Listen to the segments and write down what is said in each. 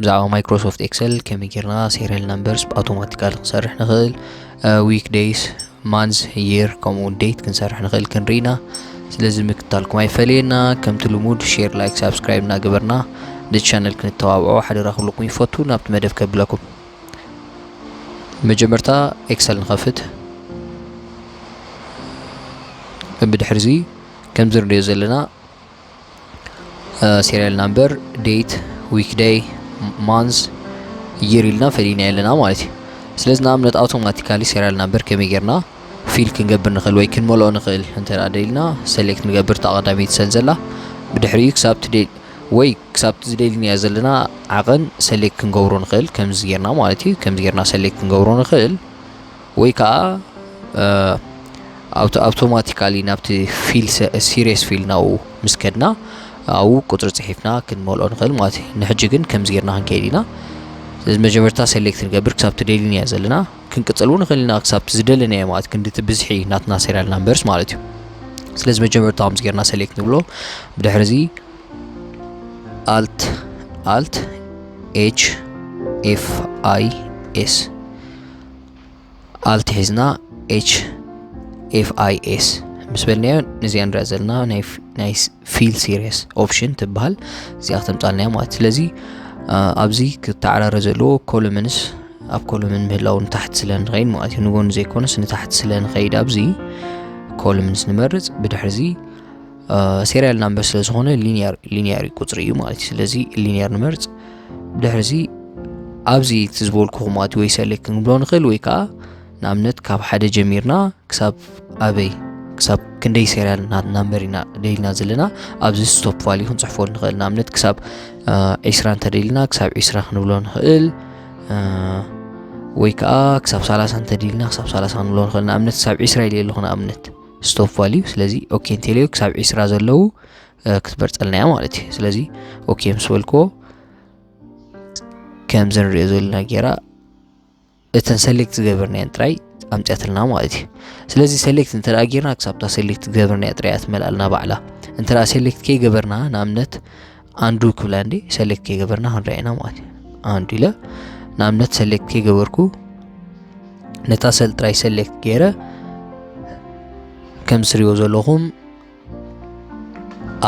ብዛዕባ ማይክሮሶፍት ኤክሰል ከመይ ጌርና ሴሪያል ናምበርስ ብኣውቶማቲካሊ ክንሰርሕ ንኽእል ዊክ ደይስ ማንዝ የር ከምኡ ዴት ክንሰርሕ ንኽእል ክንርኢ ኢና ስለዚ ምክታልኩም ኣይፈለየና ከምቲ ልሙድ ሼር ላይክ ሳብስክራይብ እናገበርና ነቲ ቻነል ክንተባብዖ ሓደራ ክብለኩም ይፈቱ ናብቲ መደብ ከብለኩም መጀመርታ ኤክሰል ንኸፍት ብድሕሪ እዚ ከምዚ ንሪኦ ዘለና ሴሪያል ናምበር ዴት ዊክ ደይ ማንዝ ይር ኢልና ፈሊና ኣለና ማለት እዩ ስለዚ ንኣብነት ኣውቶማቲካሊ ሴሪያል ናምበር ከመይ ጌርና ፊል ክንገብር ንኽእል ወይ ክንመልኦ ንኽእል እንተ ደልና ሰሌክት ንገብር ተቐዳሚት ሰን ዘላ ብድሕሪኡ ክሳብ ትደል ወይ ክሳብ ዝደልንያ ዘለና ዓቐን ሰሌክት ክንገብሮ ንኽእል ከምዚ ጌርና ማለት እዩ ከምዚ ጌርና ሰሌክት ክንገብሮ ንኽእል ወይ ከኣ ኣውቶ ኣውቶማቲካሊ ናብቲ ፊል ሲሪየስ ፊል ናብኡ ምስ ከድና ኣብኡ ቁጽሪ ጽሒፍና ክንመልኦ ንኽእል ማለት እዩ ንሕጂ ግን ከምዚ ጌርና ክንከይድ ኢና ስለዚ መጀመርታ ሴሌክት ንገብር ክሳብቲ ደሊናዮ ዘለና ክንቅጽል እውን ንኽእል ኢና ክሳብቲ ዝደለናዮ ማለት ክንዲ እቲ ብዝሒ ናትና ሴሪያል ናምበርስ ማለት እዩ ስለዚ መጀመርታ ከምዚ ጌርና ሴሌክት ንብሎ ብድሕሪ እዚ ኣልት ኣልት ኤች ኤፍ ኣይ ኤስ ኣልት ሒዝና ኤች ኤፍ ኣይ ኤስ ምስ በልናዮ ነዚኣ ንሪኣ ዘለና ናይ ፊል ሲሪየስ ኦፕሽን ትበሃል እዚኣ ክተምፃልናዮ ማለት ስለዚ ኣብዚ ክተዓራረ ዘለዎ ኮሎምንስ ኣብ ኮሎምን ምህላው ንታሕቲ ስለ ንኸይድ ማለት እዩ ንጎኑ ዘይኮነስ ንታሕቲ ስለ ንኸይድ ኣብዚ ኮሎምንስ ንመርፅ ብድሕርዚ ሴሪያል ናምበር ስለ ዝኾነ ሊኒየር ሊኒየር ቁጽሪ እዩ ማለት እዩ ስለዚ ሊኒየር ንመርጽ ብድሕሪ እዚ ኣብዚ እቲ ዝበልኩኹም ኣቲ ወይ ሰሌክት ክንብሎ ንኽእል ወይ ከዓ ንኣብነት ካብ ሓደ ጀሚርና ክሳብ ኣበይ ክሳብ ክንደይ ሴሪያል ናምበር ኢና ደሊና ዘለና ኣብዚ ስቶፕ ቫልዩ ክንፅሕፎ ንኽእል ንኣብነት ክሳብ ዒስራ እንተደሊና ክሳብ ዒስራ ክንብሎ ንኽእል ወይ ከዓ ክሳብ ሳላሳ እንተደሊና ክሳብ ሳላሳ ክንብሎ ንኽእል ንኣብነት ክሳብ ዒስራ ኢለ ኣለኹ ንኣብነት ስቶፕ ቫልዩ ስለዚ ኦኬ እንተልዮ ክሳብ ዒስራ ዘለዉ ክትመርፀልና እያ ማለት እዩ ስለዚ ኦኬ ምስ በልክዎ ከምዚ ንሪኦ ዘለና ጌራ እተን ሰሌክት ዝገበርናየን ጥራይ ኣምፅያትልና ማለት እዩ ስለዚ ሰሌክት እንተ ጌርና ክሳብታ ሰሌክት ዝገበርናያ ጥራይ እያ ትመልኣልና ባዕላ እንተ ሰሌክት ከይገበርና ንኣብነት ኣንዱ ክብላ እንዲ ሰሌክት ከይገበርና ክንሪኣ ኢና ማለት እዩ ኣንዱ ኢለ ንኣብነት ሰሌክት ከይገበርኩ ነታ ሰል ጥራይ ሰሌክት ገይረ ከም ስሪዎ ዘለኹም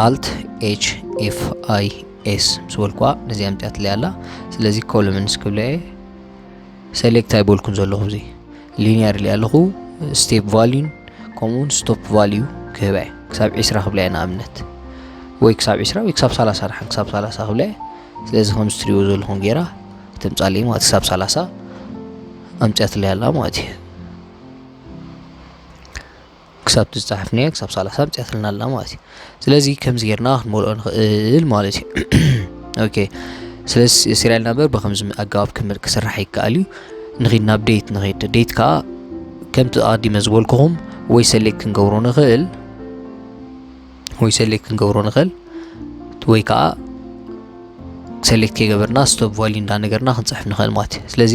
ኣልት ኤች ኤፍ ኣይ ኤስ ምስ በልኩዋ ነዚኣ ምፅያትለይ ኣላ ስለዚ ኮሎምንስ ክብለ እየ ሰሌክት ኣይበልኩን ዘለኹ እዚ ሊንያ ድልያ ኣለኹ ስቴፕ ቫልዩን ከምኡውን ስቶፕ ቫልዩ ክህባ እየ ክሳብ ዒስራ ክብላ እየ ንኣብነት ወይ ክሳብ ዒስራ ወይ ክሳብ ሳላሳ ድሓን ክሳብ ሳላሳ ክብላ እየ ስለዚ ከም ዝትሪእዎ ዘለኹም ጌራ ትምፃለይ ማለት ክሳብ ሳላሳ ኣምፅያትለይ ኣላ ማለት እዩ ክሳብ እቲ ዝጸሓፍናዮ ክሳብ ሰላሳ ኣምጺኣትልና ኣላ ማለት እዩ ስለዚ ከምዚ ጌርና ክንመልኦ ንኽእል ማለት እዩ ኦኬ ስለዚ ሲሪያል ናምበር ብከምዚ ኣገባብ ክስራሕ ይከኣል እዩ ንኺድ ናብ ዴት ንኺድ ዴት ከዓ ከምቲ ኣቐዲመ ዝበልኩኹም ወይ ሰሌክት ክንገብሮ ንኽእል ወይ ሰሌክት ክንገብሮ ንኽእል ወይ ከዓ ሰሌክት ከይገበርና ስቶፕ ቫልዩ እንዳነገርና ክንፅሕፍ ንኽእል ማለት እዩ ስለዚ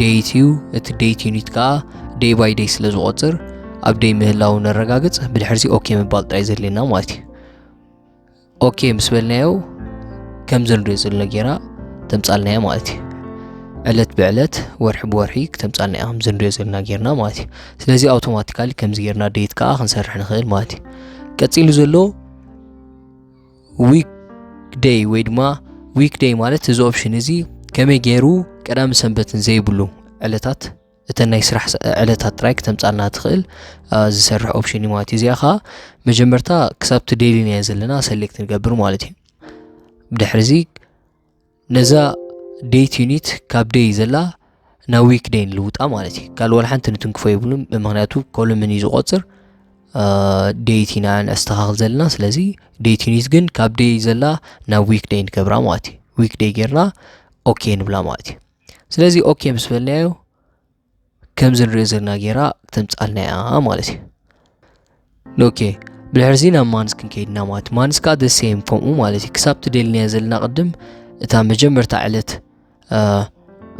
ደይት እዩ እቲ ደይት ዩኒት ከዓ ደይ ባይ ደይ ስለ ዝቆፅር ኣብ ደይ ምህላው ነረጋግፅ ብድሕርዚ ኦኬ ምባል ጥራይ ዘድልየና ማለት እዩ ኦኬ ምስ በልናዮ ከም ዘልዶ ዘሎ ጌራ ተምፃልናዮ ማለት እዩ ዕለት ብዕለት ወርሒ ብወርሒ ክተምፃልና እያ ከምዚ ንሪኦ ዘለና ጌርና ማለት እዩ ስለዚ ኣውቶማቲካሊ ከምዚ ጌርና ደይት ከዓ ክንሰርሕ ንኽእል ማለት እዩ ቀፂሉ ዘሎ ዊክ ደይ ወይ ድማ ዊክ ደይ ማለት እዚ ኦፕሽን እዚ ከመይ ገይሩ ቀዳም ሰንበትን ዘይብሉ ዕለታት እተን ናይ ስራሕ ዕለታት ጥራይ ክተምፃልና ትኽእል ዝሰርሕ ኦፕሽን እዩ ማለት እዩ እዚኣ ከዓ መጀመርታ ክሳብቲ ዴይሊ ናዮ ዘለና ሰሌክት ንገብር ማለት እዩ ብድሕሪ እዚ ነዛ ዴት ዩኒት ካብ ደይ ዘላ ናብ ዊክ ደይ ንልውጣ ማለት እዩ ካልእ ዋላ ሓንቲ ንትንክፎ የብሉን ምክንያቱ ኮሎምን እዩ ዝቆፅር ዴት ኢና ነስተኻኽል ዘለና ስለዚ ዴት ዩኒት ግን ካብ ደይ ዘላ ናብ ዊክ ደይ ንገብራ ማለት እዩ ዊክ ደይ ጌርና ኦኬ ንብላ ማለት እዩ ስለዚ ኦኬ ምስ በልናዮ ከምዚ ንሪኦ ዘለና ጌራ ተምጻልና እያ ማለት እዩ ኦኬ ብድሕርዚ ናብ ማንስ ክንከይድ ኢና ማለት ማንስ ከዓ ደሴም ከምኡ ማለት እዩ ክሳብ ትደልናዮ ዘለና ቅድም እታ መጀመርታ ዕለት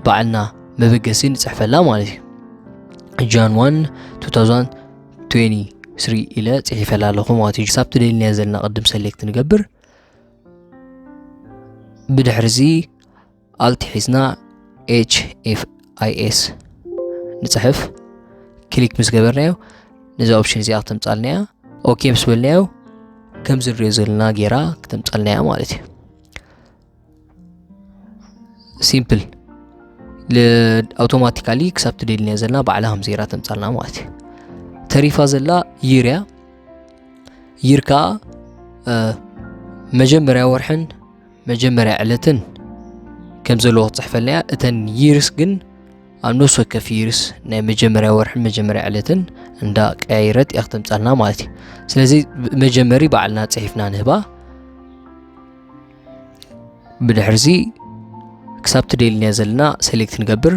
ባዕልና መበገሲ ንፅሕፈላ ማለት እዩ ጃን 1 2023 ኢለ ፅሒፈላ ኣለኹ ማለት እዩ ክሳብ ትደልናዮ ዘለና ቅድም ሰሌክት ንገብር ብድሕርዚ ኣልት ሒዝና ኤስ ንፅሕፍ ክሊክ ምስ ገበርናዮ ነዚ ኦፕሽን እዚኣ ክተምፃልና እያ ኦኬ ምስ በልናዮ ከምዚ ንሪኦ ዘለና ጌራ ክተምፃልና እያ ማለት እዩ ሲምፕል ኣውቶማቲካሊ ክሳብ ትደልናዮ ዘለና ባዕላ ከም ዜራ ተምፃልና ማለት እዩ ተሪፋ ዘላ ይር እያ ይር ከዓ መጀመርያ ወርሕን መጀመርያ ዕለትን ከም ዘለዎ ክትጽሕፈልናያ እተን ይርስ ግን ኣብ ነፍሲ ወከፍ ይርስ ናይ መጀመርያ ወርሕን መጀመርያ ዕለትን እንዳ ቀያይረት እያ ክተምጻልና ማለት እዩ ስለዚ መጀመሪ ባዕልና ጽሒፍና ንህባ ብድሕርዚ ክሳብ ትደልንያ ዘለና ሴሌክት ንገብር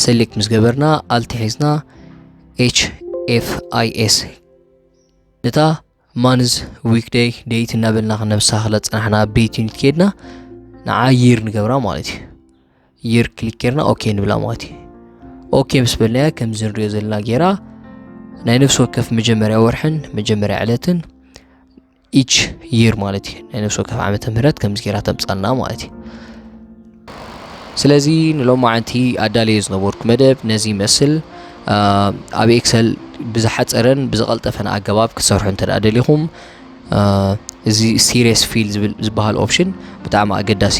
ሴሌክት ምስ ገበርና ኣልቲ ሒዝና ኤች ኤፍ ኣይ ኤስ ነታ ማንዝ ዊክደይ ደይት እናበልና ክነብሳ ክለ ፅናሕና ቤት ዩኒት ከድና ንዓ ይር ንገብራ ማለት እዩ ይር ክሊክ ጌርና ኦኬ ንብላ ማለት እዩ ኦኬ ምስ በልናያ ከምዚ ንሪኦ ዘለና ጌራ ናይ ነፍሲ ወከፍ መጀመርያ ወርሕን መጀመርያ ዕለትን ኢች ይር ማለት እዩ ናይ ነፍሲ ወከፍ ዓመተ ምህረት ከምዚ ጌራ ተምፃልና ማለት እዩ ስለዚ ንሎማዓንቲ ኣዳልዮ ዝነበርኩ መደብ ነዚ ይመስል ኣብ ኤክሰል ብዝሓፀረን ብዝቐልጠፈን ኣገባብ ክትሰርሑ እንተ ደሊኹም እዚ ሲሪየስ ፊል ዝብል ዝበሃል ኦፕሽን ብጣዕሚ ኣገዳሲ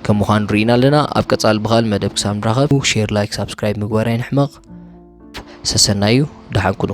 ከም ምዃኑ ርኢና ኣለና ኣብ ቀፃሊ ብኻል መደብ ክሳብ ንራኸብ ሼር ላይክ ሳብስክራይብ ምግባር ኣይንሕመቕ ሰሰናዩ ደሓን ኩኑ